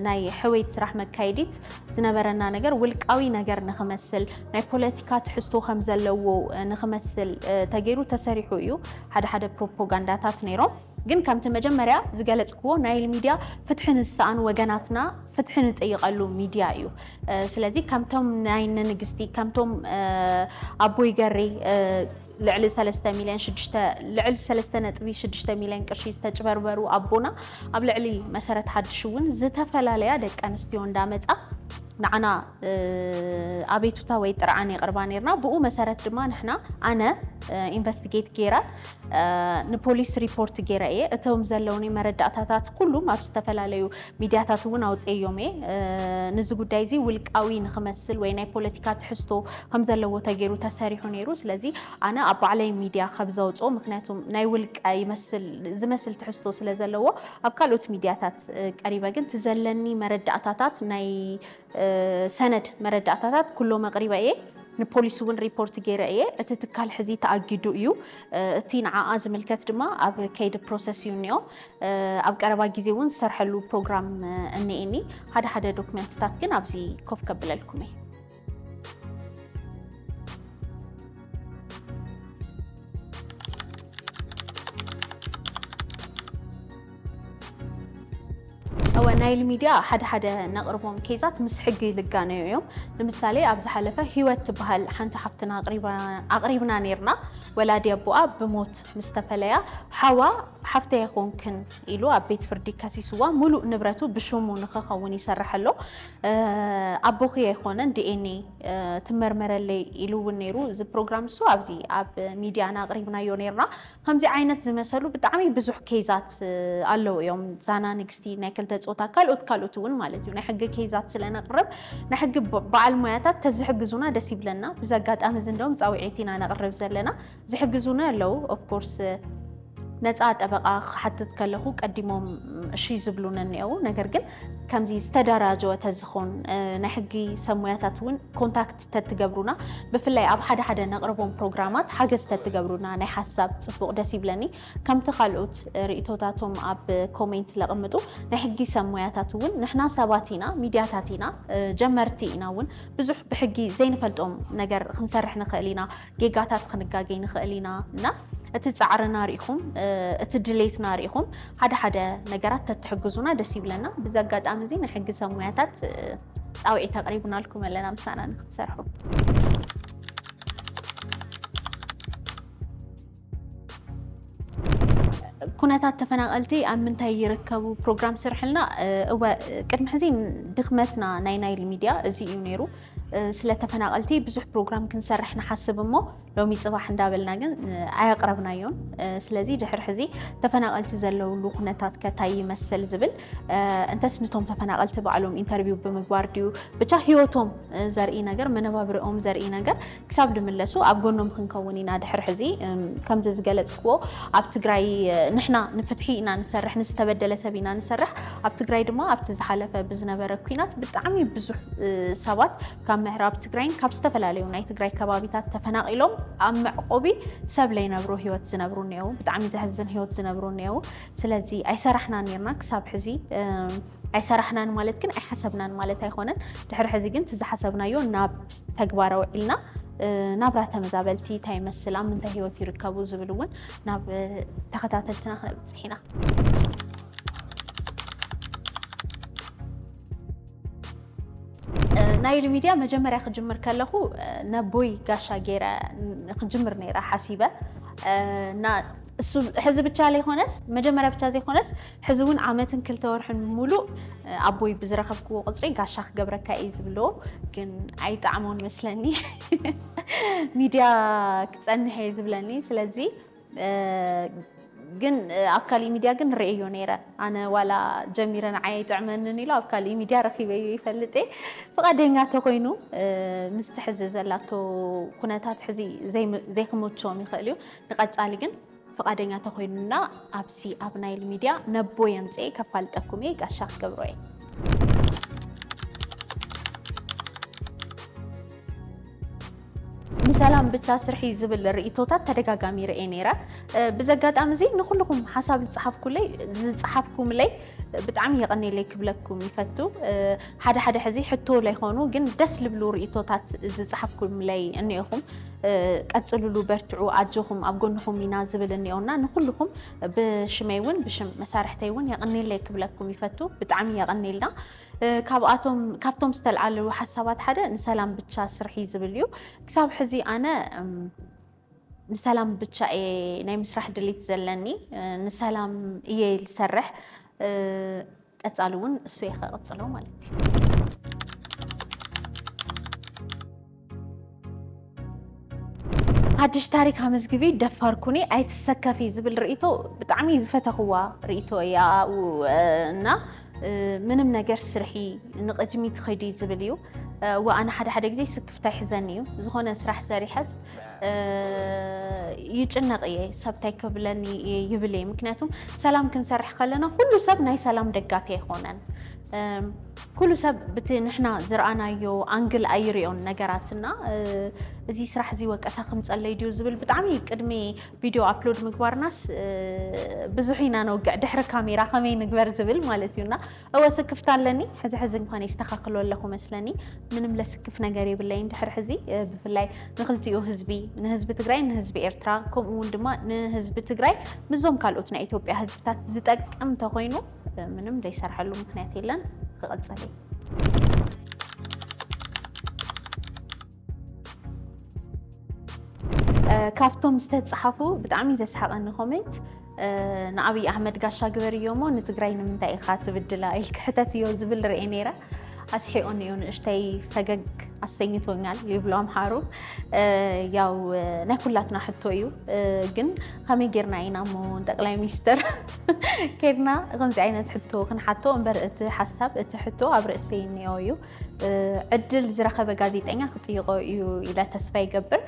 ናይ ሕወይት ስራሕ መካየዲት ዝነበረና ነገር ውልቃዊ ነገር ንክመስል ናይ ፖለቲካ ትሕዝቶ ከም ዘለዎ ንኽመስል ተገይሩ ተሰሪሑ እዩ ሓደ ሓደ ፕሮፖጋንዳታት ነይሮም። ግን ከምቲ መጀመርያ ዝገለጽክዎ ናይል ሚድያ ፍትሒ ንዝሰኣኑ ወገናትና ፍትሒ ንጥይቐሉ ሚድያ እዩ። ስለዚ ከምቶም ናይ እነ ንግስቲ ከምቶም ኣቦይ ገሬ ልዕሊ 3 ሚልዮን ልዕሊ 3.6 ሚልዮን ቅርሺ ዝተጭበርበሩ ኣቦና ኣብ ልዕሊ መሰረት ሓድሽ እውን ዝተፈላለያ ደቂ ኣንስትዮ እንዳመፃ ንዓና ኣቤቱታ ወይ ጥርዓን የቕርባ ነይርና። ብኡ መሰረት ድማ ንሕና ኣነ ኢንቨስቲጌት ገይረ ንፖሊስ ሪፖርት ገይረ እየ። እቶም ዘለውኒ መረዳእታታት ኩሉም ኣብ ዝተፈላለዩ ሚዲያታት እውን ኣውፅኤዮም እየ። ንዚ ጉዳይ እዚ ውልቃዊ ንክመስል ወይ ናይ ፖለቲካ ትሕዝቶ ከም ዘለዎ ተገይሩ ተሰሪሑ ነይሩ። ስለዚ ኣነ ኣብ ባዕለይ ሚዲያ ከብ ዘውፅኦ ምክንያቱ ናይ ውልቀ ይመስል ዝመስል ትሕዝቶ ስለ ዘለዎ ኣብ ካልኦት ሚድያታት ቀሪበ ግን እቲ ዘለኒ መረዳእታታት ናይ ሰነድ መረዳእታታት ኩሎም ኣቕሪበ እየ። ንፖሊስ እውን ሪፖርት ገይረ እየ። እቲ ትካል ሕዚ ተኣጊዱ እዩ። እቲ ንዓኣ ዝምልከት ድማ ኣብ ከይዲ ፕሮሰስ እዩ እኒኦ። ኣብ ቀረባ ግዜ እውን ዝሰርሐሉ ፕሮግራም እኒኤኒ። ሓደ ሓደ ዶክመንትታት ግን ኣብዚ ኮፍ ከብለልኩም እየ። ናይል ሚድያ ሓደ ሓደ ነቕርቦም ኬዛት ምስ ሕጊ ልጋነዩ እዮም ንምሳሌ ኣብ ዝሓለፈ ሂወት ትበሃል ሓንቲ ሓፍትና ኣቕሪብና ነርና ወላዲ ኣቦኣ ብሞት ምስ ተፈለያ ሓዋ ሓፍተ ይኾንክን ኢሉ ኣብ ቤት ፍርዲ ከሲስዋ ሙሉእ ንብረቱ ብሽሙ ንክኸውን ይሰርሐ ኣሎ ኣቦኺ ኣይኾነን DNA ትመርመረለይ ኢሉ እውን ነይሩ እዚ ፕሮግራም እሱ ኣብዚ ኣብ ሚድያና ኣቕሪብናዮ ነይርና ከምዚ ዓይነት ዝመሰሉ ብጣዕሚ ብዙሕ ኬዛት ኣለዉ እዮም ዛና ንግስቲ ናይ ክልተ ፆታ ካልኦት ካልኦት እውን ማለት እዩ ናይ ሕጊ ኬዛት ስለነቕርብ ናይ ሕጊ በዓል ሞያታት ተዝሕግዙና ደስ ይብለና ብዚ ኣጋጣሚ እዚ እንደውም ፃውዒት ኢና ነቕርብ ዘለና ዝሕግዙኒ ኣለዉ ኦፍ ኮርስ ነፃ ጠበቃ ክሓትት ከለኹ ቀዲሞም እሺ ዝብሉኒ እኒአው ነገር ግን ከምዚ ዝተደራጀወ ተዝኾን ናይ ሕጊ ሰብ ሙያታት እውን ኮንታክት ተትገብሩና ብፍላይ ኣብ ሓደ ሓደ ነቕርቦም ፕሮግራማት ሓገዝ ተትገብሩና ናይ ሓሳብ ፅቡቕ ደስ ይብለኒ ከምቲ ካልኦት ርእቶታቶም ኣብ ኮሜንት ለቕምጡ ናይ ሕጊ ሰብ ሙያታት እውን ንሕና ሰባት ኢና ሚድያታት ኢና ጀመርቲ ኢና እውን ብዙሕ ብሕጊ ዘይንፈልጦም ነገር ክንሰርሕ ንኽእል ኢና ጌጋታት ክንጋገይ ንኽእል ኢና እና እቲ ፃዕርና ርኢኹም እቲ ድሌትና ርኢኹም ሓደ ሓደ ነገራት ተትሕግዙና ደስ ይብለና። ብዚ ኣጋጣሚ እዚ ናይ ሕጊ ሰብ ሙያታት ፃውዒት ኣቕሪብናልኩም ኣለና ምሳና ንክትሰርሑ። ኩነታት ተፈናቐልቲ ኣብ ምንታይ ይርከቡ ፕሮግራም ስርሕልና እወ ቅድሚ ሕዚ ድኽመትና ናይ ናይል ሚድያ እዚ እዩ ነይሩ ስለ ተፈናቐልቲ ብዙሕ ፕሮግራም ክንሰርሕ ንሓስብ እሞ ሎሚ ፅባሕ እንዳበልና ግን ኣየቕረብናዮን ስለዚ ድሕሪ ሕዚ ተፈናቐልቲ ዘለውሉ ኩነታት ከታይ ይመስል ዝብል እንተስ ንቶም ተፈናቐልቲ ባዕሎም ኢንተርቪው ብምግባር ድዩ ብቻ ሂወቶም ዘርኢ ነገር መነባብርኦም ዘርኢ ነገር ክሳብ ድምለሱ ኣብ ጎኖም ክንከውን ኢና ድሕሪ ሕዚ ከምዚ ዝገለጽክዎ ኣብ ትግራይ ንሕና ንፍትሒ ኢና ንሰርሕ ንዝተበደለ ሰብ ኢና ንሰርሕ ኣብ ትግራይ ድማ ኣብቲ ዝሓለፈ ብዝነበረ ኩናት ብጣዕሚ ብዙሕ ሰባት ካብ ምዕራብ ትግራይን ካብ ዝተፈላለዩ ናይ ትግራይ ከባቢታት ተፈናቂሎም ኣብ መዕቆቢ ሰብ ለይነብሩ ህይወት ዝነብሩ እኒአው ብጣዕሚ ዘሕዝን ህይወት ዝነብሩ እኒአው ስለዚ ኣይሰራሕና ኔርና ክሳብ ሕዚ ኣይሰራሕናን ማለት ግን ኣይሓሰብናን ማለት ኣይኮነን ድሕሪ ሕዚ ግን ትዝሓሰብናዮ ናብ ተግባር ኣውዒልና ናብራ ተመዛበልቲ እንታይ ይመስል ኣብ ምንታይ ሂወት ይርከቡ ዝብል እውን ናብ ተኸታተልትና ክነብፅሕ ኢና። ናይል ሚድያ መጀመርያ ክጅምር ከለኹ ነቦይ ጋሻ ገይረ ክጅምር ነይረ ሓሲበ እና እሱ ሕዚ ብቻ ዘይኮነስ መጀመርያ ብቻ ዘይኮነስ ሕዚ እውን ዓመትን ክልተ ወርሕን ሙሉእ ኣቦይ ብዝረኸብክዎ ቁፅሪ ጋሻ ክገብረካ እየ ዝብሎ ግን ኣይጣዕሞን መስለኒ ሚድያ ክፀንሕ እየ ዝብለኒ ስለዚ ግን ኣብ ካሊእ ሚድያ ግን ርእዮ ነይረ ኣነ ዋላ ጀሚረ ንዓይ ኣይጥዕመንን ኢሉ ኣብ ካሊእ ሚድያ ረኪበዮ ይፈልጥ እየ ፍቓደኛ ተኮይኑ ምስ ትሕዚ ዘላቶ ኩነታት ሕዚ ዘይክመችዎም ይኽእል እዩ ንቀፃሊ ግን ፍቓደኛ ተኾይኑና ኣብዚ ኣብ ናይል ሚድያ ነቦይ ኣምፅኤ ከፋልጠኩም እየ ጋሻ ክገብሮ እየ ሰላም ብቻ ስርሒ ዝብል ርእቶታት ተደጋጋሚ ርኤ ነይረ ብዘጋጣሚ እዚ ንኩልኩም ሓሳብ ዝፀሓፍኩለይ ዝፀሓፍኩምለይ ብጣዕሚ የቐኔለይ ክብለኩም ይፈቱ ሓደ ሓደ ሕዚ ሕቶ ለይኾኑ ግን ደስ ልብሉ ርእይቶታት ዝጸሓፍኩምለይ እኔኹም ቀጽልሉ በርትዑ ኣጆኹም ኣብ ጎንኹም ኢና ዝብል እኔኦና ንኹልኹም ብሽመይ እውን ብሽም መሳርሕተይ እውን የቐኔለይ ክብለኩም ይፈቱ ብጣዕሚ የቐኔልና ካብኣቶም ካብቶም ዝተልዓሉ ሓሳባት ሓደ ንሰላም ብቻ ስርሒ ዝብል እዩ ክሳብ ሕዚ ኣነ ንሰላም ብቻ እየ ናይ ምስራሕ ድሌት ዘለኒ ንሰላም እየ ዝሰርሕ ቀፃሊ እውን እሱ እየ ከቕፅሎ ማለት እዩ። ሓድሽ ታሪክ ኣመዝግቢ ደፋር ኩኒ ኣይትሰከፊ ዝብል ርእይቶ ብጣዕሚ ዝፈተኽዋ ርእይቶ እያ እና ምንም ነገር ስርሒ ንቕድሚት ኽዲ ዝብል እዩ። እዋእ ኣነ ሓደ ሓደ ግዜ ስክፍታ ይሕዘኒ እዩ ዝኾነ ስራሕ ሰሪሐስ ይጭነቕ እየ ሰብ እንታይ ክብለኒ እየ ይብል እየ ምክንያቱ ሰላም ክንሰርሕ ከለና ኩሉ ሰብ ናይ ሰላም ደጋፊ ኣይኮነን ኩሉ ሰብ ብቲ ንሕና ዝረኣናዮ ኣንግል ኣይርዮን ነገራትና እዚ ስራሕ እዚ ወቀሳ ክምፀለይ ድዩ ዝብል ብጣዕሚ ቅድሚ ቪድዮ ኣፕሎድ ምግባርናስ ብዙሕ ኢና ነውግዕ ድሕሪ ካሜራ ከመይ ንግበር ዝብል ማለት እዩና እወ ስክፍታ ኣለኒ ሕዚ ሕዚ እንኳን የስተካክሎ ኣለኩ መስለኒ ምንም ለስክፍ ነገር የብለይን ድሕር ሕዚ ብፍላይ ንክልቲኡ ህዝቢ ንህዝቢ ትግራይ ንህዝቢ ኤርትራ ከምኡ እውን ድማ ንህዝቢ ትግራይ ምዞም ካልኦት ናይ ኢትዮጵያ ህዝብታት ዝጠቅም እንተኮይኑ ምንም ዘይሰርሐሉ ምክንያት የለን ክቐፅል እዩ ካብቶም ዝተፃሓፉ ብጣዕሚ ዘስሓቐኒ ኮሜንት ንኣብይ ኣሕመድ ጋሻ ግበርዮ እሞ ንትግራይ ንምንታይ ኢኻ ትብድላ ኢልክ ሕተትዮ ዝብል ርኤ ነይረ ኣስሒቑኒ እዩ ንእሽተይ ፈገግ ኣሰኝቶኛል ይብሉ ኣምሓሩ ያው ናይ ኩላትና ሕቶ እዩ ግን ከመይ ጌርና ኢና እሞ ጠቅላይ ሚኒስትር ኬድና ከምዚ ዓይነት ሕቶ ክንሓቶ እምበር እቲ ሓሳብ እቲ ሕቶ ኣብ ርእሰይ እኒኦ እዩ ዕድል ዝረኸበ ጋዜጠኛ ክጥይቆ እዩ ኢለ ተስፋ ይገብር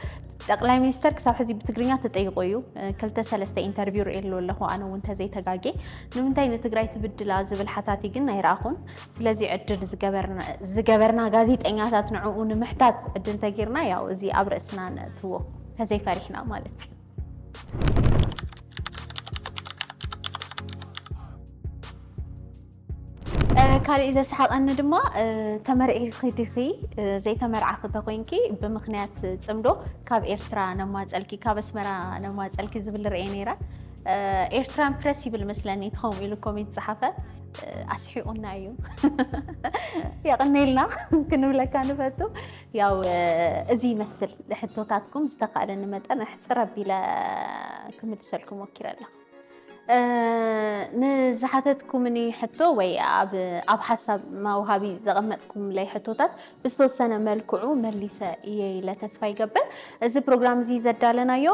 ጠቅላይ ሚኒስተር ክሳብ ሕዚ ብትግርኛ ተጠይቆ እዩ ክልተ ሰለስተ ኢንተርቪው ርእየሉ ኣለኹ ኣነ እውን ተዘይተጋጌ ንምንታይ ንትግራይ ትብድላ ዝብል ሓታቲ ግን ኣይረኣኹን ስለዚ ዕድል ዝገበርና ጋዜጠኛታት ንዕኡ ንምሕታት ዕድል ተጊርና ያው እዚ ኣብ ርእስና ነእትዎ ተዘይፈሪሕና ማለት እዩ ካሊእ ዘስሓቀኒ ድማ ተመርዒኺ ዲኺ ዘይተመርዓኺ ተኮይንኪ ብምኽንያት ፅምዶ ካብ ኤርትራ ነማፀልኪ ካብ ኣስመራ ነማፀልኪ ዝብል ሪኤ ነይረ ኤርትራን ፕረስ ይብል መስለኒ እቲ ከምኡ ኢሉ ኮሜንት ዝፀሓፈ ኣስሒቁና እዩ የቅኔልና ክንብለካ ንፈቱ ያው እዚ ይመስል ሕቶታትኩም ዝተካእለኒ መጠን ኣሕፅር ኣቢለ ክምልሰልኩም ሞኪረ ኣለኩ ንዝሓተትኩምኒ ሕቶ ወይ ኣብ ኣብ ሓሳብ መውሃቢ ዘቐመጥኩምለይ ሕቶታት ብዝተወሰነ መልክዑ መሊሰ እየ ኢለ ተስፋ ይገብር። እዚ ፕሮግራም እዚ ዘዳለናዮ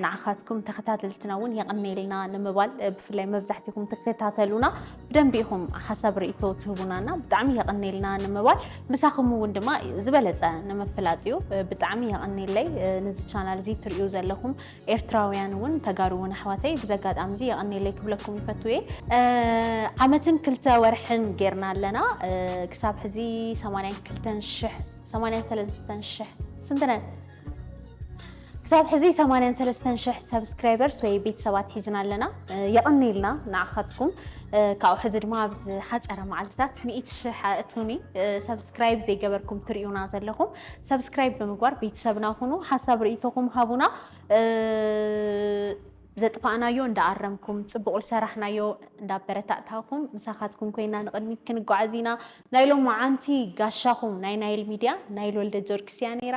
ንዓኻትኩም ተኸታተልትና እውን የቐኔልና ንምባል ብፍላይ መብዛሕትኹም ትከታተሉና ብደንቢ ኢኹም ሓሳብ ርእቶ ትህቡናና ብጣዕሚ የቐኔልና ንምባል ምሳኹም እውን ድማ ዝበለፀ ንምፍላጥ እዩ። ብጣዕሚ የቐኔለይ ነዚ ቻናል እዚ ትርእዩ ዘለኹም ኤርትራውያን ውን ተጋሩ ውን ኣሕዋተይ ብዚ ኣጋጣሚ እዚ የቀኔለይ ክብለኩም ይፈቱ እየ። ዓመትን ክልተ ወርሕን ጌርና ኣለና ክሳብ ሕዚ ሰማንያን ክልተን ሽሕ ሰማንያን ሰለስተን ሽሕ ስንት ነን ክሳብ ሕዚ ሰማንያን ሰለስተን ሽሕ ሰብስክራይበርስ ወይ ቤተሰባት ሒዝና ኣለና የቀኔልና ንዓካትኩም ካብኡ ሕዚ ድማ ኣብ ዝሓፀረ መዓልትታት ሚእቲ ሽሕ ኣእቱኒ ሰብስክራይብ ዘይገበርኩም ትሪኡና ዘለኩም ሰብስክራይብ ብምግባር ቤተሰብና ኩኑ። ሓሳብ ርእይቶኹም ሃቡና። ዘጥፋእናዮ እንዳኣረምኩም ፅቡቕ ዝሰራሕናዮ እንዳበረታእታኹም ምሳኻትኩም ኮይና ንቕድሚት ክንጓዓዝ ኢና። ናይ ሎማዓንቲ ጋሻኹም ናይ ናይል ሚድያ ናይል ወልደጀርጊስ እያ ነይራ።